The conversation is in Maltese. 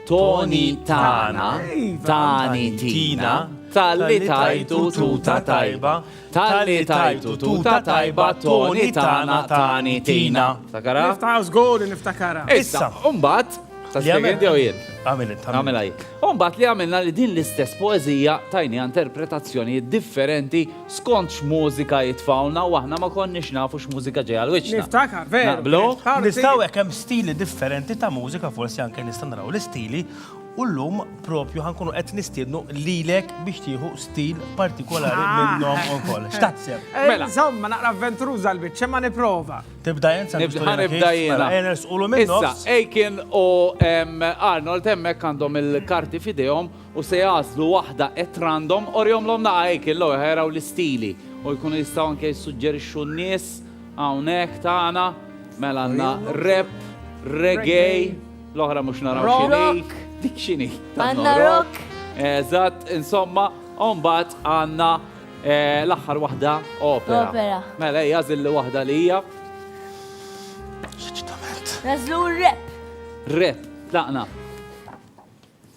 Toni tana, tani tina, talli tajtu tuta tajba, talli tajtu tuta tajba, toni tana, tani tina. Takara? Niftakar, zgur niftakara. Issa, umbat, ta' spiegħendi u jien. Għamil int. Għamil għaj. Umbat li għamilna li din l-istess poezija tajni interpretazzjoni differenti skont x'mużika jitfgħulna u aħna ma konniex nafu x'mużika ġej għal wiċċna. Niftakar, veru. Naqblu? Nistgħu hekk hemm stili differenti ta' mużika forsi anke nistgħu naraw l-istili u llum propju ħa nkunu qed nistiednu lilek biex tieħu stil partikolari minnhom ukoll. X'taħseb? Mela. Insomma, naqra avventuruża l-biċċa ma nipprova. Tibda int sa Ħa nibda jiena. Mela, ejja nersqulu min-nofs. Issa, Aiken u Arnold hemmhekk għandhom il-karti f'idejhom u se jagħżlu waħda at random, orihomlhom naqgħa hekk il-logħob ħa jaraw l-istili u jkunu jistgħu anke jissuġġerixxu n-nies hawnhekk tagħna. Mela għandna rap, reggae, l-oħra mhux naraw x'inhi. Dik x'inhi? Għandna rock. Eżatt, insomma, u mbagħad għandna eh, l-aħħar waħda opera. Opera. Mela hija żilli waħda li hija Nażlu r-rep. rap. Tlaqna.